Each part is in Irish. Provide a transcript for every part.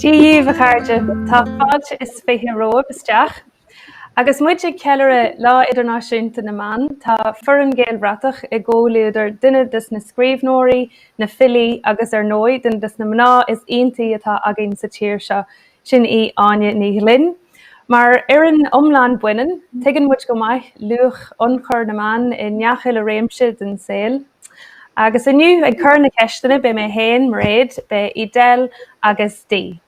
Dia dhíobh, a chairde! Tá fáilte is fiche romhaibh isteach. Agus muid ag ceiliúradh Lá Idirnáisiúnta na mBan, tá foireann Gaelbhratach i gcomhluadar duine des na scríbhneoirí, na filí agus ar ndóigh, duine des na mná is iontaí atá againn sa tír seo, Sin í Áine Ní Ghlinn. Mar fhoireann iomlán baineann, tuigeann muid go maith luach ionchur na mban i ngach uile réimse den saol. Agus inniu, ag cur na ceisteanna, beidh mé féin, Mairéad, beidh Edel agus Dee.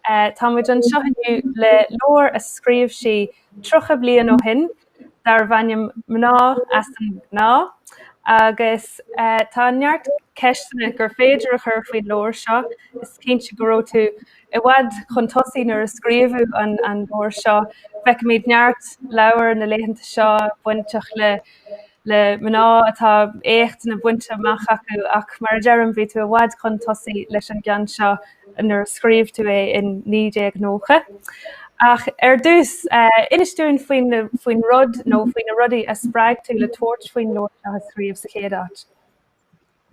Tá muid anseo inniu le leabhar a scríobh sí 30 bliain ó shin darbh ainm Mná as an nGnáth agus tá neart ceisteanna gur féidir a chur faoin leabhar seo. Is cinnte go raibh tú i bhfad chun tosaigh nuair a scríobhadh an leabhar seo. Feicimid neart leabhar na laethanta seo bainteach le. le mná atá éachtanna bainte amach acu ach mar a deirim bhí tú i bhfad chun tosaigh leis an gceann seo nuair a scríobh tú é in 1990. Ach ar dtús, inis dúinn faoin faoin rud nó faoi na rudaí a spreag tú le tabhairt faoin leabhar seo a scríobh sa chéad áit.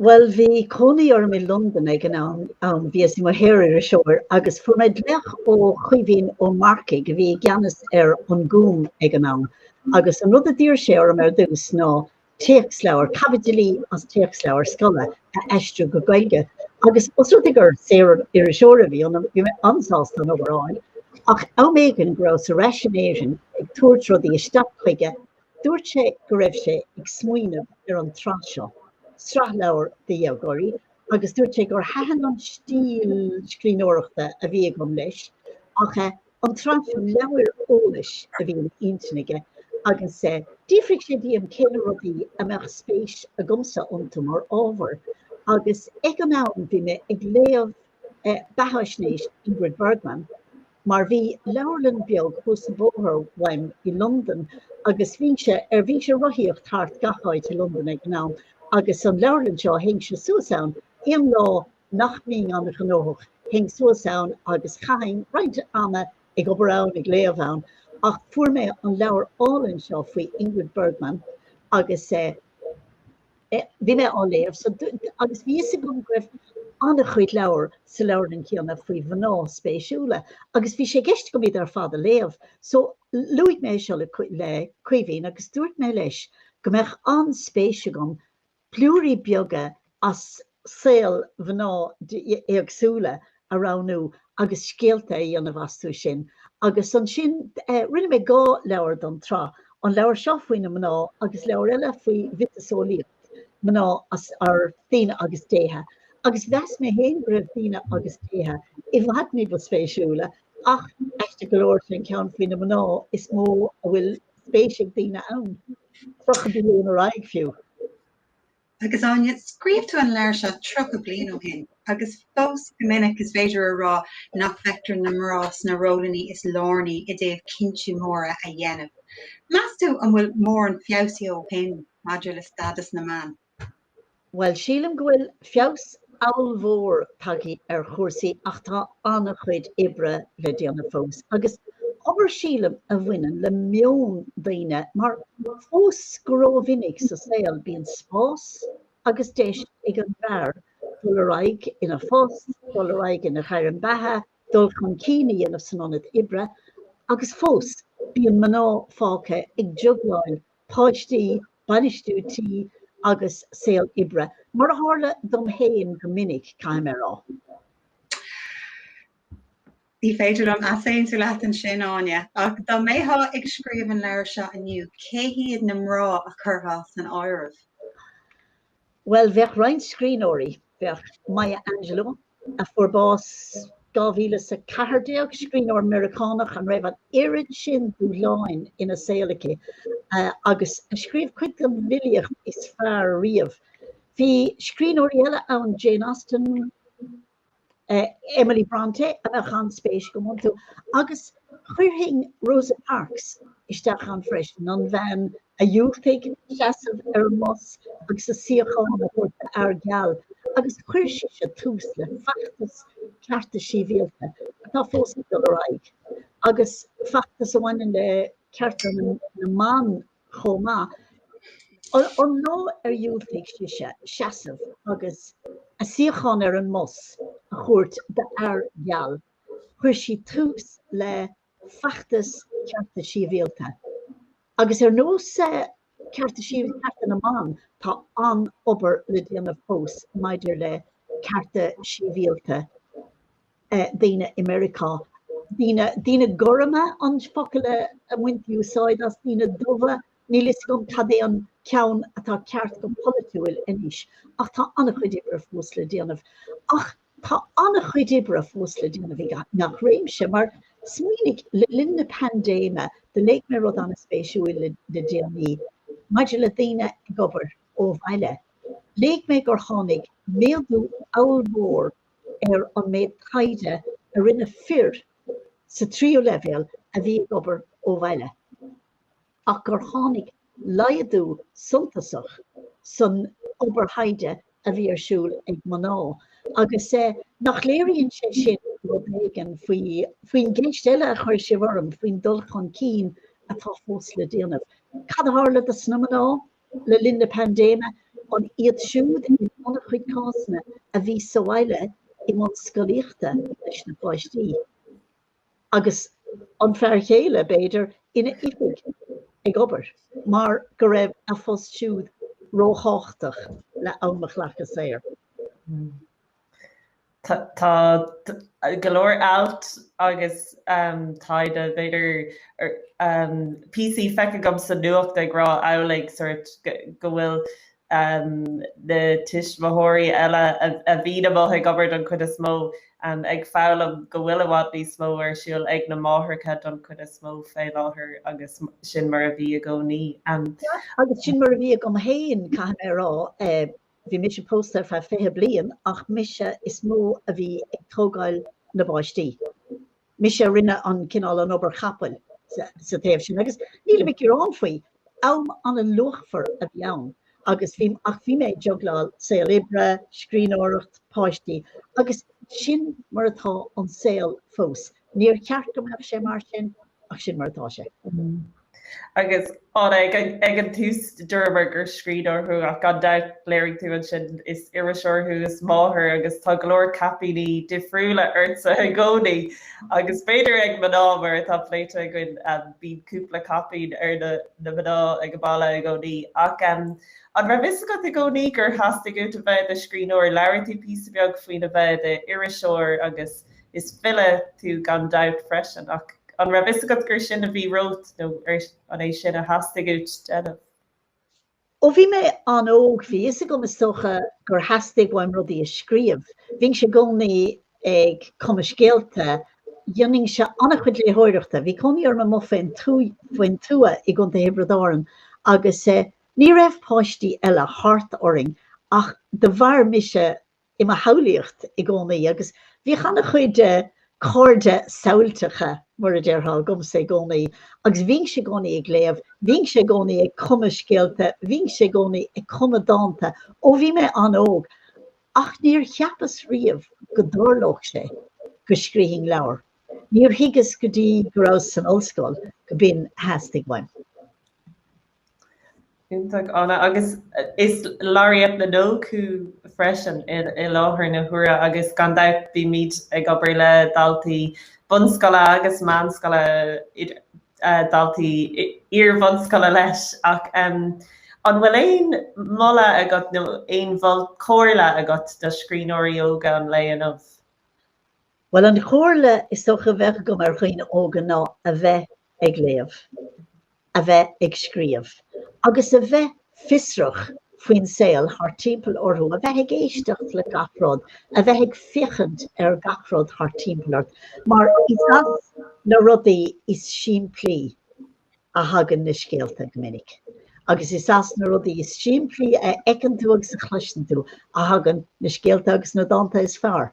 Bhuel, bhí cónaí orm i Londain ag an am, bhíos i mo shaoririseoir agus fuair mé glaoch ó Chaoimhín Ó Marcaigh a bhí i gceannas ar An Gúm ag an am agus an rud a d'iarr sé orm ar dtús ná téacsleabhar, caibidilí as téacsleabhar scoile, a aistriú go Gaeilge agus os rud é gur saoririseoir a bhí ionam, bhí mé an-sásta an obair a fháil ach am éigin go rabhas ar ais in Éirinn ag tabhairt rudaí isteach chuige, Dúirt sé go raibh sé ag smaoineamh ar an tsraith seo, sraith leabhar do dhéagóirí, agus dúirt sé gur thaitin an stíl scríbhneoireachta a bhí agam leis ach eh an tsraith seo leabhair eolais a bhí ina intinn aige agus eh d'fhiafraigh sé díom cé na rudaí a mbeadh spéis agamsa iontu mar ábhar agus ag an am bhí mé ag léamh eh beatháisnéis Ingrid Bergman mar bhí leabharlann beag thuas an bóthar uaim i Londain agus bhínnse ar bhínnse ag rothaíocht thart gach áit i Londain ag an am agus an leabharlann seo théinnse suas ann aon lá nach mbínn an-ghnóthach théinn suas ann agus chaithinn roinnt ama ag obair ann ag léamh ann ach fuair mé an leabhar álainn seo faoi Ingrid Bergman agus eh. bhí mé á léamh so agus bhí a fhios agam go raibh an-chuid leabhar sa leabharlann céanna faoi mhná spéisiúla agus bhí sé i gceist agam iad ar fad a léamh so luaigh mé seo le Caoimhín agus dúirt mé leis go mbeadh an-spéis agam blúirí beaga as saol mhná éagsúla a roghnú agus scéalta a dhéanamh astu sin agus ansin rinne mé dhá leabhar don tsraith, an leabhar seo faoi na mná agus leabhar eile faoi mhiotaseolaíocht mná idir daoine agus déithe agus mheas mé féin go raibh daoine agus déithe i bhfad ní ba spéisiúla ach aisteach go leor sé an ceann faoi na mná is mó a bhfuil spéis ag daoine ann, 30 bliain ar aghaidh fiú. Agus Áine, scríobh tú an leabhar seo tríocha bliain ó shin agus fós go minic is féidir a rá nach bhfeictear na mná sna róil is lárnaí i dtaobh cinntí móra a dhéanamh. Meas tú an bhfuil mórán feabhsaithe ó shin maidir le stádas na mban? Bhuel, sílim go bhfuil feabhas an-mhór tagtha ar chúrsaí ach tá an-chuid oibre le déanamh fós agus obair sílim a bhaineann le meon daoine mar fós go rómhinic sa saol bíonn spás agus deis ag an bhfear dul ar aghaidh ina phost, dul ar aghaidh ina ghairm beatha, dul chun cinn a dhéanamh san ionad oibre agus fós bíonn mná fágtha ag jugláil páistí, bainistiú tí agus saol oibre. Mar a tharla dom féin go minic, caithfidh mé a rá. Ní féidir liom easaontú leat ansin, Áine. Ach dá mbeifeá ag scríobh an leabhair seo inniu, cé hiad na mná a chuirfeá san áireamh? Bhuel, bheadh roinnt scríbhneoirí. Bheadh Maya Angelou, a fuair bás 2014, scríbhneoir Meiriceánach a raibh an oiread sin dúshláin ina saol aici agus a scríobh cuid den bhfilíocht is fearr riamh. Bheadh scríbhneoirí eile ann, Jane Austen, Emily Brontë, a mbeadh an-spéis agam iontu agus, Chuirfinn Rosa Parks isteach ann freisin, an bhean a dhiúltaigh seasamh ar an mbus agus a suíochán a thabhairt d'fhear geal, agus chuir sise tús le feachtas cearta síbhialta atá fós ag dul ar aghaidh, agus feachtas a bhaineann le cearta na mban chomh maith. An lá ar dhiúltaigh sise seasamh agus a suíochán ar an mbus a thabhairt d'fhear geal, chuir sí tús le feachtas Cearta Síbhialta agus ar nós Cearta sí, Cearta na mBan tá an-obair le déanamh fós maidir le cearta síbhialta daoine i Meiriceá. Daoine, daoine gorma an focal a mbaintí úsáid as, daoine dubha, níl 'fhios agam cad é an ceann atá ceart go polaitiúil anois ach tá an-chuid oibre fós le déanamh ach Tá an-chuid oibre fós le déanamh i ngach réimse, mar smaoinigh, le linn na paindéime do léigh mé rud an-spéisiúil le déanaí maidir le daoine ag obair ó bhaile. Léigh mé gur tháinig méadú ollmhór ar an méid taighde a rinne fir sa tríú leibhéal a bhí ag obair ó bhaile. ach gur tháinig laghdú suntasach san obair thaighde a bhí ar siúl ag mná, agus nach léiríonn sé sin rud éigin faoi faoin gceist eile a chuir sibh orm faoin dul chun cinn atá fós le déanamh? Cad a tharla dos na mná le linn na paindéime? An iad siúd, in an-chuid cásanna, a bhí sa bhaile i mbun scolaíochta leis na páistí? agus an fear céile, b'fhéidir, ina oifig ag obair mar go raibh a phost siúd róthábhachtach le am a ghlacadh saor. Tá go leor ailt agus taighde, b'fhéidir, píosaí feicthe agam sa nuacht ag rá amhlaidh sórt go bhfuil na tuismitheoirí eile a bhíonn amuigh ag obair don chuid is mó, ag foghlaim go bhfuil i bhfad níos mó ar siúl ag na máithreacha don chuid is mó faoi láthair agus sin mar a bhí i gcónaí. Agus sin mar a bhí agam fhéin caithfidh mé a rá, bhí mise pósta ar feadh fiche bliain ach mise is mó a bhí ag tógáil na bpáistí. mise a rinne an cineál an obair chapaill sa taobh sin agus nílim ag gearán faoi, am an-luachmhar a bhí ann agus, ach bhí mé ag jugláil saol oibre, scríbhneoireacht, páistí agus sin mar atá an saol fós. Níor cheart go mbeadh sé mar sin ach sin mar atá sé. Agus an ag an tús dúramar gur scríbhneoir thú ach gan dabht léirigh tú ansin is iriseoir thú, is máthair agus tá go leor caipíní difriúla ortsa i gcónaí. Agus b'fhéidir ag mná, mar atá pléite againn, bíonn cúpla caipín ar na mná ag an mbaile i gcónaí. Ach an raibh fhios agat i gcónaí gur theastaigh uait a bheith i do scríbhneoir? Labhair tú píosa beag faoina bheith i d'iriseoir agus. Is file tú gan dabht freisin, ach an raibh fhios agat gur sin a bhí romhat, nó an é sin a theastaigh uait a dhéanamh? Ó bhí mé an-óg, bhí fhios agam is dócha gur theastaigh uaim rudaí a scríobh. Bhínnse i gcónaí ag cumadh scéalta, dhéanainnse an-chuid léitheoireachta. Bhí cónaí orm amuigh faoin tuath i gContae Thiobraid Árann agus ní raibh páistí eile thart orainn ach de bharr mise i mo shamhlaíocht i gcónaí agus bhíodh an-chuid cairde samhailteacha, mar a déarfá, agamsa i gcónaí agus bhínnse i gcónaí ag léamh, bhínnse i gcónaí ag cumadh scéalta, bhínnse i gcónaí ag cumadh dánta ó bhí mé an-óg ach níor cheapas riamh go dtarlódh sé go scrífinn leabhar. Níor thuigeas go dtí go rabhas san ollscoil go b'in a theastaigh uaim. Iontach, Anna. Agus is Laureate na nÓg thú freisin i láthair na huaire agus gan dabht bímid ag obair le daltaí bunscoile agus meánscoile, daltaí iar-bhunscoile leis ach an bhfuil aon mholadh agat nó aon bhall comhairle agat do scríbhneoirí óga an lae inniu? Bhuel, an chomhairle is dócha a bheadh agam do dhaoine óga ná a bheith ag léamh, a bheith ag scríobh, agus a bheith fiosrach faoin saol thart timpeall orthu, a bheith ag éisteacht le gach rud, a bheith ag féachaint ar gach rud thart timpeall ort, mar is as na rudaí is simplí a thagann na scéalta go minic, agus is as na rudaí is simplí a fheiceann tú agus a chloiseann tú a thagann na scéalta agus na dánta is fearr.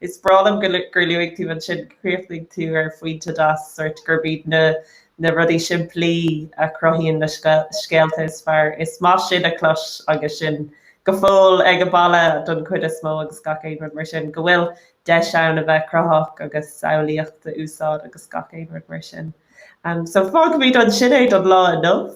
Is breá liom gur luaigh tú ansin, chríochnaigh tú ar phointe deas, sórt, gurb iad na rudaí simplí a chruthaíonn na scéalta is fearr. Is maith sin a chlos agus sinn go fóill ag an baile don chuid is mó agus gach aon rud mar sin, go bhfuil deis ann a bheith cruthaitheach agus samhlaíocht a úsáid agus gach aon rud mar sin. So fágfaimid ansin é don lá inniu.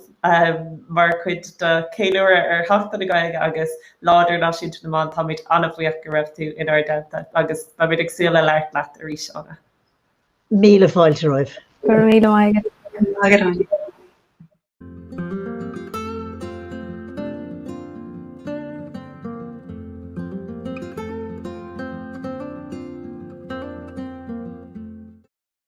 Mar chuid de cheiliúradh ar Sheachtain na Gaeilge agus Lá Idirnáisiúnta na mBan táimid an-bhuíoch go raibh tú inár dteannta agus beimid ag súil le labhairt leat arís Anna. Míle fáilte romhaibh. Go raibh míle maith agat.